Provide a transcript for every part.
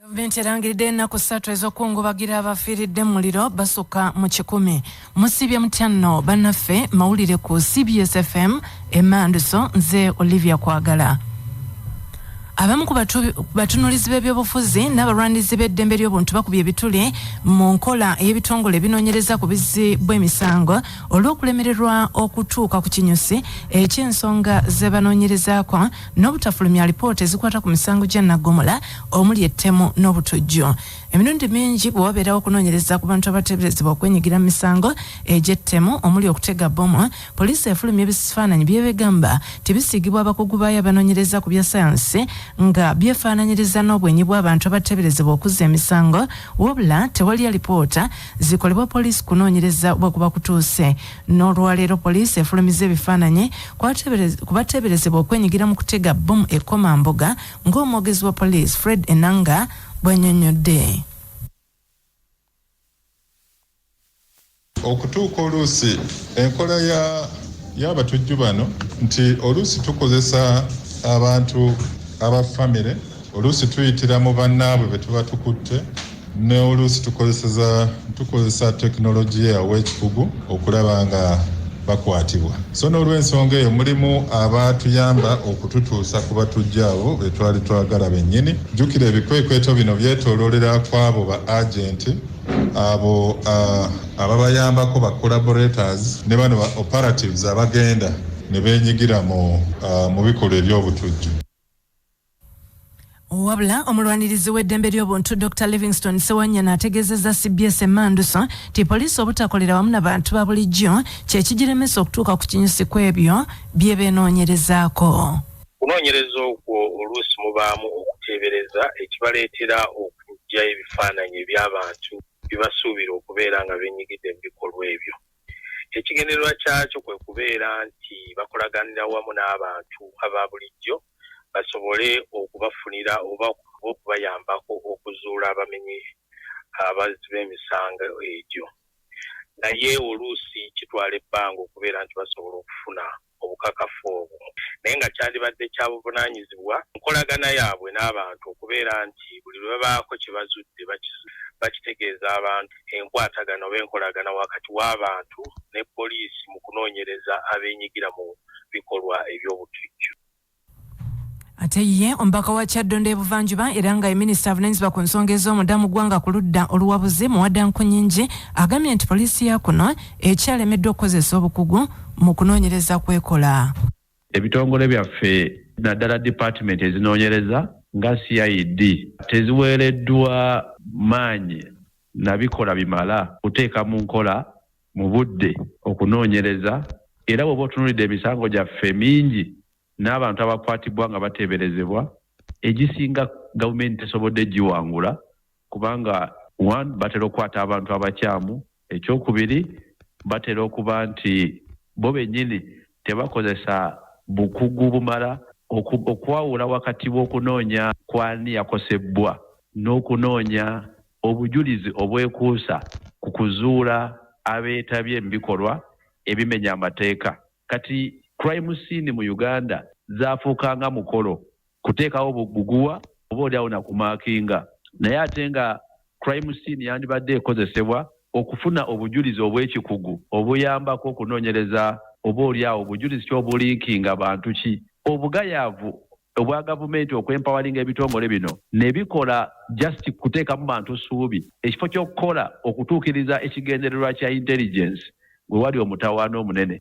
Gavumenti erangiridde ennaku ssatu ez'okukungubagira abafiiridde mu muliro basukka mu kikumi. Musiibye mutya nno bannaffe mawulire ku CBS FM emanduso nze Olivia Kwagala. Abamu ku batunulizi b'ebyobufuzi n'abalwanirizi b'eddembe ly'obuntu bakubye ebituli mu nkola ey'ebitongole ebinoonyereza ku bizzi bw'emisango olw'okulemererwa okutuuka ku kinyusi eky'ensonga ze banoonyerezaako n'obutafulumya alipoota ezikwata ku misango gya naggomola omuli ettemu n'obutujju emirundi mingi bwe wabeerawo okunoonyereza ku bantu abateeberezebwa okwenyigira mu misango egy'ettemu omuli okutega bbomu poliisi efulumya ebisifaananyi byebegamba tibisiigibwa abakugu baayo abanoonyereza ku bya sayansi nga byefaananyiriza n'obwenyi bw'abantu abateeberezebwa okuzza emisango wabula tewali alipoota zikolebwa poliisi kunoonyereza bwe kuba kutuuse N'olwaleero poliisi efulumizza ebifaananyi ku bateeberezebwa okwenyigira mu kutega bbomu e Komamboga ng'omwogezi wa poliisi Fred Enanga bw'annyonnyodde. Okutuuka oluusi enkola ya y'abatujju bano nti oluusi tukozesa abantu aba famire Oluusi tuyitira mu bannaabwe be tuba tukutte ne oluusi tukozeseza tukozesa tekinologiya ow'ekikugu okulaba nga bakwatibwa so n'olw'ensonga eyo mulimu abaatuyamba okututuusa ku batujja abo be twali twagala bennyini jjukira ebikwekweto bino byetooloolera ku abo ba agenti abo ababayambako ba collaborators ne bano ba operatives abagenda ne beenyigira mu bikolwa eby'obutujju wabula omulwanirizi w'eddembe ly'obuntu dr livingston sewanyana ategeezezza cbs emanduso nti poliisi obutakolera wamu na bantu ba bulijjo kye kigiremesa okutuuka ku kinyusi ku ebyo bye beenoonyerezaako okunoonyereza okwo oluusi mubaamu okuteebereza ekibaleetera okujja ebifaananyi eby'abantu bye basuubira okubeera nga benyigidde mu bikolwa ebyo ekigendererwa kyakyo kwe kubeera nti bakolaganira wamu n'abantu aba bulijjo basobole okubafunira oba okubayambako okuzuula abamenyi abazzi b'emisango egyo naye oluusi kitwala ebbanga okubeera nti basobola okufuna obukakafu obwo naye nga kyandibadde kya buvunaanyizibwa nkolagana yaabwe n'abantu okubeera nti buli lwe babaako kye bazudde bakitegeeza abantu enkwatagana oba enkolagana wakati w'abantu ne poliisi mu kunoonyereza abeenyigira mu bikolwa eby'obutujju. Ate ye omubaka wa Kyaddondo ebuvanjuba era nga ye minisita avunanyizibwa ku nsonga ez'omunda mu ggwanga ku ludda oluwabuzi Muwada Nkunyingi agambye nti poliisi ya kuno ekyalemeddwa okukozesa obukugu mu kunoonyereza kwekola. Ebitongole byaffe naddala dipaatimenti ezinoonyereza nga CID teziweereddwa maanyi na bikolwa bimala kuteeka mu nkola mu budde okunoonyereza era bw'oba otunuulidde emisango gyaffe mingi n'abantu abakwatibbwa nga bateeberezebwa, egisinga Gavumenti tesobodde giwangula kubanga one batera okukwata abantu abakyamu, ekyokubiri batera okuba nti bo bennyini tebakozesa bukugu bumala okwawula wakati w'okunoonya kw'ani yakosebbwa n'okunoonya obujulizi obwekuusa ku kuzuula abeetabye mu bikolwa ebimenya amateeka. Kati crime scene mu Uganda zaafuuka nga mukolo kuteekawo buguwa oba oli awo na kumaakinga naye ate nga crime scene yandibadde ekozesebwa okufuna obujulizi obw'ekikugu obuyambako okunoonyereza oba oli awo bujulizi ki obulinkinga bantu ki obugayaavu obwa gavumenti okwempawalinga ebitongole bino ne bikola just kuteekamu bantu ssuubi ekifo ky'okukola okutuukiriza ekigendererwa kya intelligence we wali omutawaana omunene.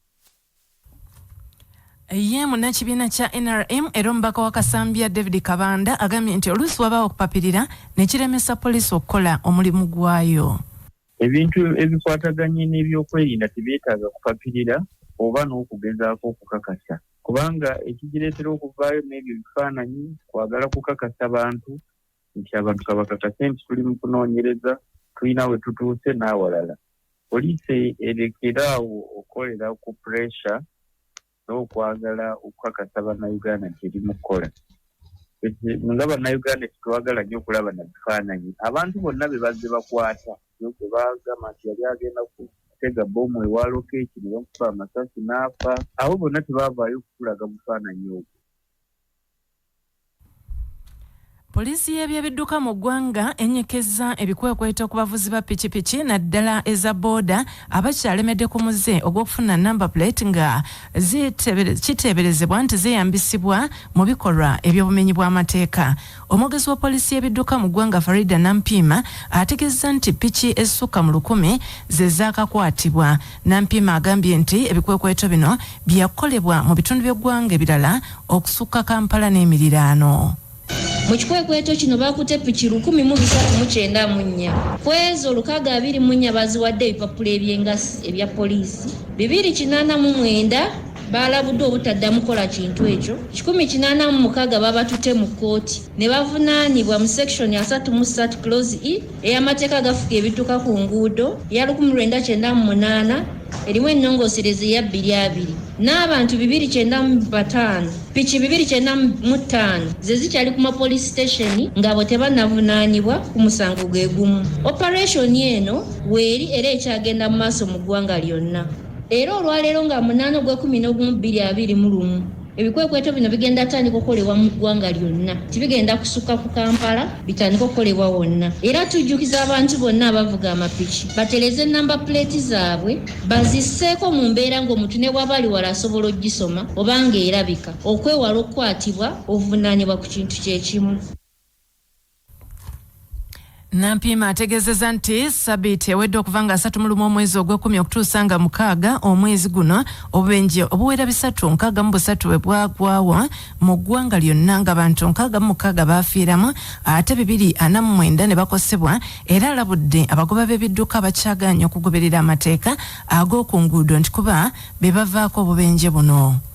Ye munnakibiina kya nrm era omubaka wa Kasambya David Kabanda agambye nti oluusi wabaawo okupapirira ne kiremesa poliisi okukola omulimu gwayo. ebintu ebikwataganye n'ebyokwerinda tebyetaaga kupapirira oba n'okugezaako okukakasa kubanga ekigireetera okuvaayo n'ebyo ebifaananyi kwagala kukakasa bantu nti abantu kabakakase nti tuli mu kunoonyereza tulina we tutuuse n'awalala poliisi erekeraawo okukolera ku puresha n'okwagala okukakasa bannayuganda nti eri mu kukola nga bannayuganda tetwagala nnyo okulaba na bifaananyi abantu bonna be bazze bakwata gwe bagamba nti yali agenda kutega bomu ewa lokeeki ne bamukuba amasasi n'afa abo bonna tebaavaayo okutulaga bufaananyi obwo Poliisi y'ebyebidduka mu ggwanga enyikezza ebikwekweto ku bavuzi ba pikipiki naddala eza booda abakyalemedde ku muze ogw'okufuna namba plate nga kiteeberezebwa nti zeeyambisibwa mu bikolwa eby'obumenyi bw'amateeka omwogezi wa poliisi y'ebidduka mu ggwanga farida nampiima ategezza nti piki ezisukka mu lukumi ze zaakakwatibwa Nampiima agambye nti ebikwekweto bino byakukolebwa mu bitundu by'eggwanga ebirala okusukka Kampala n'emiriraano. Mu kikwekweto kino baakutte piki lukumi mu bisatu mu kyenda mu nnya. Ku ezo, lukaaga abiri mu nnya baaziwadde ebipapula eby'engassi ebya poliisi, bibiri kinaana mu mwenda baalabuddwa obutaddamu kukola kintu ekyo, kikumi kinaana mu mukaaga baabatutte mu kkooti ne bavunaanibwa mu Section asatu mu ssatu, Clause ii, ey'amateeka agafuga ebidduka ku nguudo eya lukumi lwenda kyenda mu munaana erimu ennongoosereza eya bbiri abiri n'abantu bibiri kyenda mu bataano piki bibiri kyenda mu ttaano ze zikyali ku mapoliisi sitesheni ng'abo tebanavunaanibwa ku musango gwe gumu opereshoni eno weeri era ekyagenda mu maaso mu ggwanga lyonna era olwaleero nga munaana ogw'ekumi n'ogumu bbiri abiri mu lumu Ebikwekweto bino bigenda tandika okukolebwa mu ggwanga lyonna, tibigenda kusukka ku Kampala, bitandika okukolebwa wonna era tujjukiza abantu bonna abavuga amapiki batereze nnamba puleeti zaabwe bazisseeko mu mbeera ng'omuntu ne bw'aba ali wala asobola okugisoma oba ng'erabika okwewala okukwatibwa obuvunaanibwa ku kintu kye kimu. Nampiima ategezeza nti sabiiti ewedde okuva nga asatu mulumu omwezi ogwekumi okutuusa nga mukaaga omwezi guno obubenje obuwera bisatu nkaaga mu busatu bwe bwagwawo mu ggwanga lyonna nga bantu nkaaga mu mukaaga baafiiramu ate bibiri ana mu mwenda ne bakosebwa era alabudde abagoba b'ebidduka abakyagaanya okugoberera amateeka ag'oku nguudo nti kuba be bavaako obubenje buno.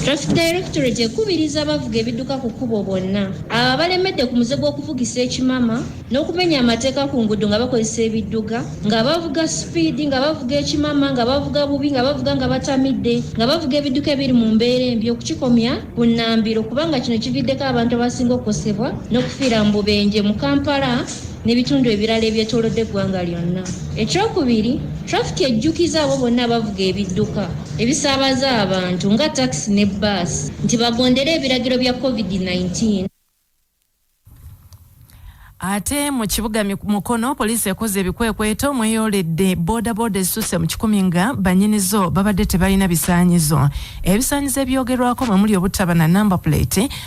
Traffic Directorate ekubiriza abavuga ebidduka ku kkubo bonna abo abalemedde ku muze gw'okuvugisa ekimama n'okumenya amateeka ku nguudo nga bakozesa ebidduga nga bavuga sipiidi nga bavuga ekimama nga bavuga bubi nga bavuga nga batamidde nga bavuga ebidduka ebiri mu mbeera embi okukikomya ku nnambiro kubanga kino kividdeko abantu abasinga okukosebwa n'okufiira mu bubenje mu Kampala n'ebitundu ebirala ebyetoolodde eggwanga lyonna. Ekyokubiri, trafiki ejjukiza abo bonna abavuga ebidduka ebisaabaza abantu nga takisi ne bbaasi nti bagondere ebiragiro bya covid 19. ate mu kibuga mukono poliisi ekoze ebikwekweto mweyoledde bodaboda ezisusse mu kikumi nga banyinizo babadde tebalina bisaanyizo ebisaanyizo ebyogerwako mwemuli obutaba na number plate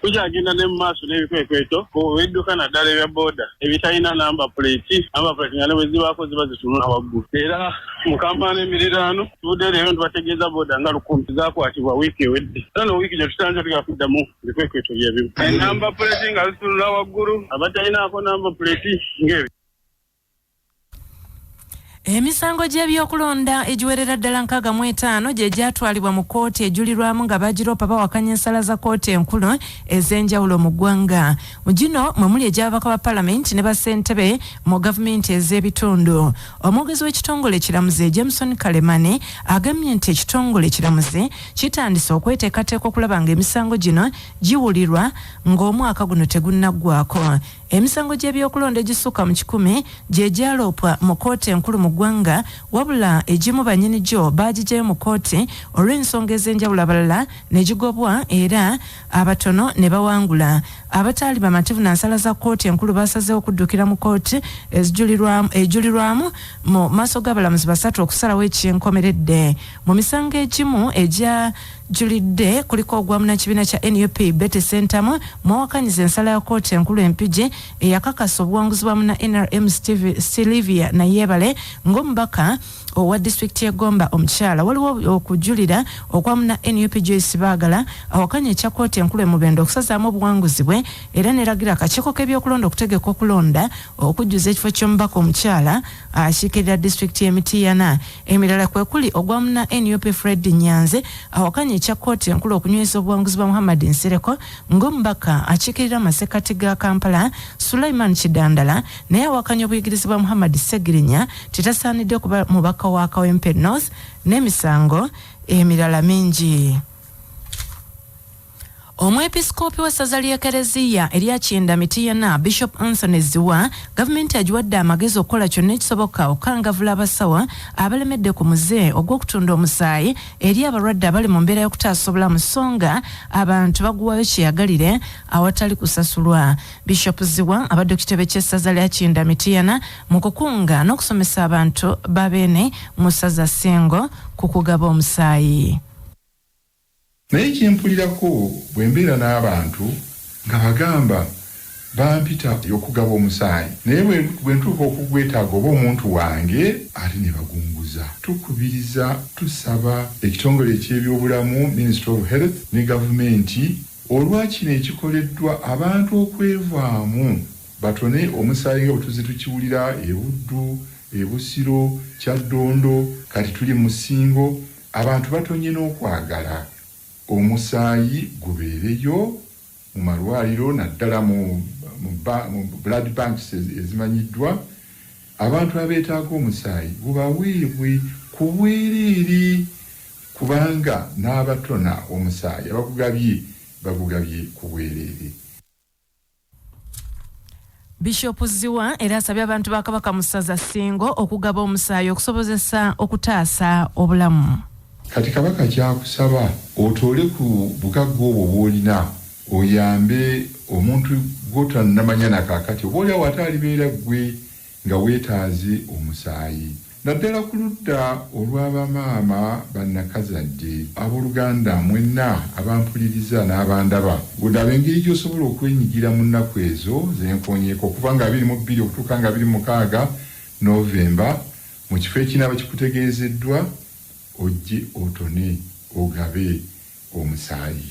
Tukyagenda ne mu maaso n'ebikwekweto ku bidduka naddala ebya boda ebitalina namba puleeti, namba puleeti nga ne bwe zibaako ziba zitunula waggulu. Era mu Kampala n'emiriraano tuvudde leero ne tubategeeza boda nga lukumi zaakwatibwa wiiki ewedde era ne wiiki gino tusanze tugenda kuddamu bikwekweto bye bimu, ennamba puleeti nga zitunula waggulu, abatalinaako namba puleeti ng'ebyo. Emisango gy'ebyokulonda egiwerera ddala nkaaga mu etaano gye gyatwalibwa mu kkooti ejulirwamu nga baagiroopa bawakanya ensala za kkooti enkulu ez'enjawulo mu ggwanga. Mu gino mwe muli egy'ababaka ba palamenti ne bassentebe mu gavumenti ez'ebitundu. Omwogezi w'ekitongole ekiramuzi Jameson Kalemani agambye nti ekitongole ekiramuzi kitandise okweteekateeka okulaba ng'emisango gino giwulirwa ng'omwaka guno tegunnaggwako. Emisango gy'ebyokulonda egisukka mu kikumi gye gyaloopwa mu kkooti enkulu mu ggwanga wabula egimu bannyini gyo baagigyayo mu kkooti olw'ensonga ez'enjawulo abalala ne gigobwa era abatono ne bawangula. Abataali bamativu na nsala za kkooti enkulu baasazeewo okuddukira mu kkooti ejulirwamu mu maaso g'abalamuzi basatu okusalawo eky'enkomeredde. Mu misango egimu egya julidde kuliko ogwa munakibiina kya nup Betty Sentamu mwawakanyiza ensala ya kooti enkulu empigi eyakakasa obuwanguzi bwa muna nrm Sylvia Nayebale ng'omubaka owa disitulikiti y'e Gomba omukyala waliwo okujulira okwa muna nup Joyce Baagala awakanya ekya kooti enkulu e Mubende okusazaamu obuwanguzi bwe era neragira akakiiko k'ebyokulonda okutegeka okulonda okujjuza ekifo ky'omubaka omukyala akiikirira disitulikiti y'e Mityana. Emirala kwe kuli ogwa munna nup Fred Nyanzi awakanya ekya kkooti enkulu okunyweza obuwanguzi bwa Muhammad Nsereko ng'omubaka akiikirira amasekkati ga Kampala. Sulaiman Kidandala naye awakanya obuyigirizi bwa Muhammad Ssegirinya nti tasaanidde kuba mubaka wa Kawempe North n'emisango emirala mingi. omwepisikoopi w'essaza ly'ekereziya erya kinda mitiyana bishop anthony ziwa gavumenti agiwadde amagezi okukola kyonna ekisoboka okukangavula abasawo abalemedde ku muze ogw'okutunda omusaayi eri abalwadde abali mu mbeera y'okutaasa obulamu so nga abantu baguwayo kyeyagalire awatali kusasulwa bishop ziwa abadde ku kitebe ky'essaza lya kinda mitiyana mu kukunga n'okusomesa abantu babeene mu ssaza singo ku kugaba omusaayi Naye kyempulirako bwembeera n'abantu nga bagamba bampita okugaba omusaayi naye bwentuuka okugwetaaga oba omuntu wange ate nebagunguza. Tukubiriza, tusaba ekitongole eky'ebyobulamu, Ministry of Health, ne gavumenti olwa kino ekikoleddwa abantu okwevaamu batone omusaayi nga bwetuzze tukiwulira e Buddu, e Busiro, Kyaddondo kati tuli mu Ssingo. Abantu batonye n'okwagala omusaayi gubeereyo mu malwaliro naddala mu mu blood banks ezimanyiddwa, abantu abeetaaga omusaayi gubaweebwe ku bwereere kubanga n'abatona omusaayi abagugabye bagugabye ku bwereere. Bishop Zziwa era asabye abantu ba Kabaka mu ssaza Ssingo okugaba omusaayi okusobozesa okutaasa obulamu. Kati Kabaka ky'akusaba otoole ku bugagga obwo bw'olina oyambe omuntu gw'otannamanya na kaakati oboolyawo ate alibeera ggwe. nga weetaaze omusaayi naddala ku ludda olwa bamaama ba nnakazadde. Abooluganda mwenna abampuliriza n'abandaba, laba engeri gy'osobola okwenyigira mu nnaku ezo ze nkoonyeeko okuva nga abiri mu bbiri okutuuka nga abiri mu mukaaga, November, mu kifo ekinaaba kikutegeezeddwa, ojje otone ogabe omusaayi.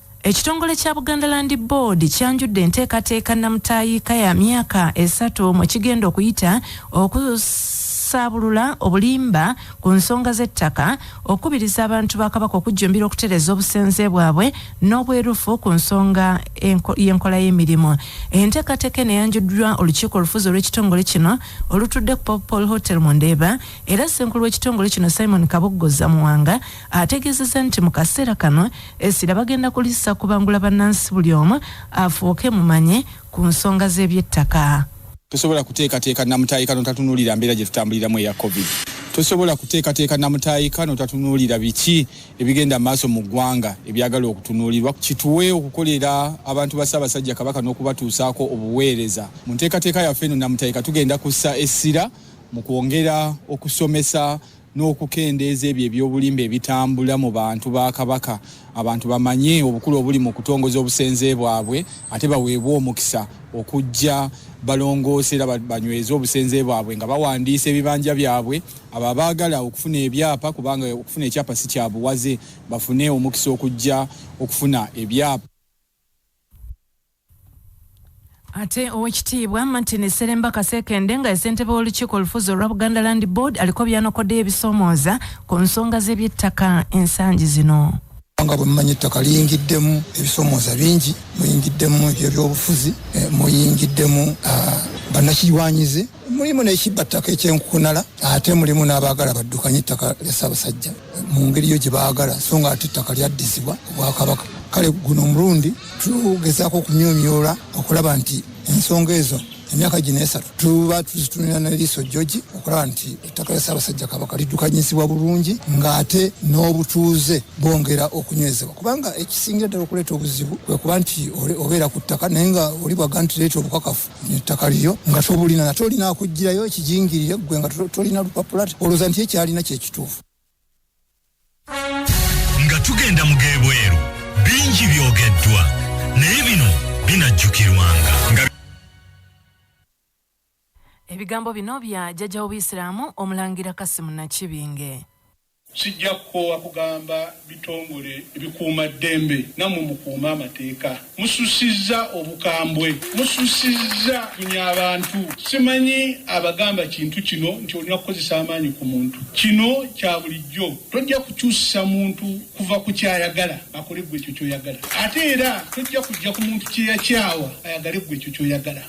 Ekitongole kya Buganda Land Board kyanjudde enteekateeka nnamutaayiika ya myaka esatu mwe kigenda okuyita okusaabulula obulimba ku nsonga z'ettaka, okukubiriza abantu ba Kabaka okujjumbira okutereeza obusenze bwabwe n'obwerufu ku nsonga y'enkola y'emirimu. Enteekateeka eno eyanjuddwa olukiiko olufuzi olw'ekitongole kino olutudde ku Popol Hotel mu Ndeeba era ssenkulu w'ekitongole kino Simon Kaboggoza Muwanga ategeezezza nti mu kaseera kano Essira bagenda kulissa kubangula bannansi buli omu afuuke mumanye ku nsonga z'ebyettaka. Tosobola kuteekateeka nnamutaayiika n'otatunuulira mbeera gye tutambuliramu eya Covid. Tosobola kuteekateeka nnamutaayiika n'otatunuulira biki ebigenda mu maaso mu ggwanga ebyagala okutunuulirwa. Kituwe okukolera abantu ba Ssaabasajja Kabaka n'okubatuusaako obuweereza. Mu nteekateeka yaffe eno nnamutaayiika tugenda kussa essira mu kwongera okusomesa, n'okukendeeza ebyo eby'obulimba ebitambula mu bantu ba Kabaka abantu bamanye obukulu obuli mu kutongoza obusenze bwabwe ate baweebwe omukisa okujja balongoose era banyweze obusenze bwabwe nga bawandiisa ebibanja byabwe abo abaagala okufuna ebyapa kubanga okufuna ekyapa si kyabuwaze bafune omukisa okujja okufuna ebyapa Ate owekitiibwa Martin Seremba Kasekende nga yesentebe w'olukiiko olufuzi olwa Buganda Land Board aliko byanokoddeyo ebisomooza ku nsonga z'ebyettaka ensangi zino. nga bwemumanyi ettaka liyingiddemu ebisomooza bingi muyingiddemu ebyebyobufuzi eh, muyingiddemu ah, bannakirwanyizi mulimu n'ekibba ttaka ekyenkukunala ate mulimu n'abaagala baddukanye ettaka lya ssaabasajja mu ngeri yo gye baagala so nga ate ettaka lyaddizibwa obwakabaka kale guno omulundi tugezaako okumyumyoola okulaba nti ensonga ezo emyaka gino esatu tuba tuzitunira neriiso joji okulaba nti ettaka lya ssaabasajja kabaka liddukanyizibwa bulungi ng'ate n'obutuuze bwongera okunywezebwa kubanga ekisingira ddala okuleeta obuzibu kwe kuba nti obeera ku ttaka naye nga oli bwaga nti leeta obukakafu ettaka liryo nga tobulina nate olina akugirayo ekijingirire ggwe nga tolina lupapula olowooza nti ekyalina kyekituufu nga tugenda mu gebweru bingi byogeddwa naye bino binajjukirwanga ebigambo bino bya jjajja w'obuyisiraamu omulangira kasimu nakibinge Sijja kukoowa kugamba bitongole ebikuuma ddembe nammwe mukuume amateeka. Mususizza obukambwe, mususizza bunya abantu. Simanyi abagamba kintu kino nti olina kukozesa amaanyi ku muntu. Kino kya bulijjo. Tojja kukyusa muntu kuva ku ky'ayagala akole ggwe ekyo ky'oyagala. Ate era tojja kujja ku muntu kye yakyawa ayagale ggwe ekyo ky'oyagala.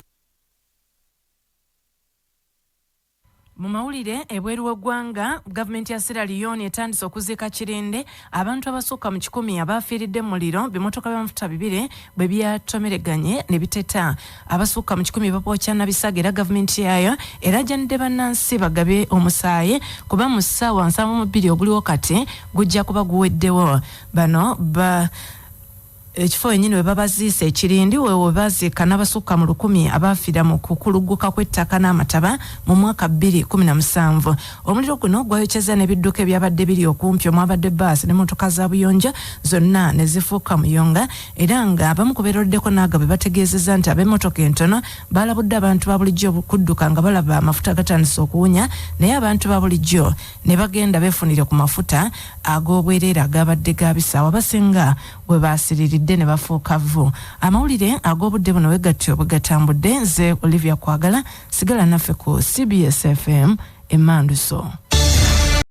Mu mawulire ebweru w'eggwanga, Gavumenti ya Sierra Leone etandise okuziika kirinde abantu abasukka mu kikumi abaafiiridde mu muliro bimotoka by'amafuta bibiri bwe byatomereganye ne biteta. Abasukka mu kikumi bapookya na bisago era gavumenti yaayo eraajanidde bannansi bagabe omusaayi kuba mu ssaawa nsanvu mu bbiri oguliwo kati gujja kuba guweddewo. Bano ba Ekifo wenyini webabaziise e Kirindi wewebaziika nabasukka mu lukumi abaafira mu kukulugguka kw'ettaka n'amataba mu mwaka bbiri kumi na musanvu. Omuliro guno gwayokyezza n'ebidduka ebyabadde biri okumpi omwabadde bbaasi ne mmotoka za buyonjo zonna ne zifuuka muyonga era nga abamu ku beeroleddeko n'agabwe bategeezezza nti ab'emmotoka entono baalabudde abantu ba bulijjo okudduka nga balaba amafuta gatandise okuwunya naye abantu ba bulijjo ne bagenda beefunire ku mafuta ag'obwereere agaabadde gaabisaawa abasinga we baasiriridde ne bafuuka vvu amawulire ag'obudde buno we gatyo bwe gatambudde nze olivia kwagala sigala naffe ku cbsfm emmanduso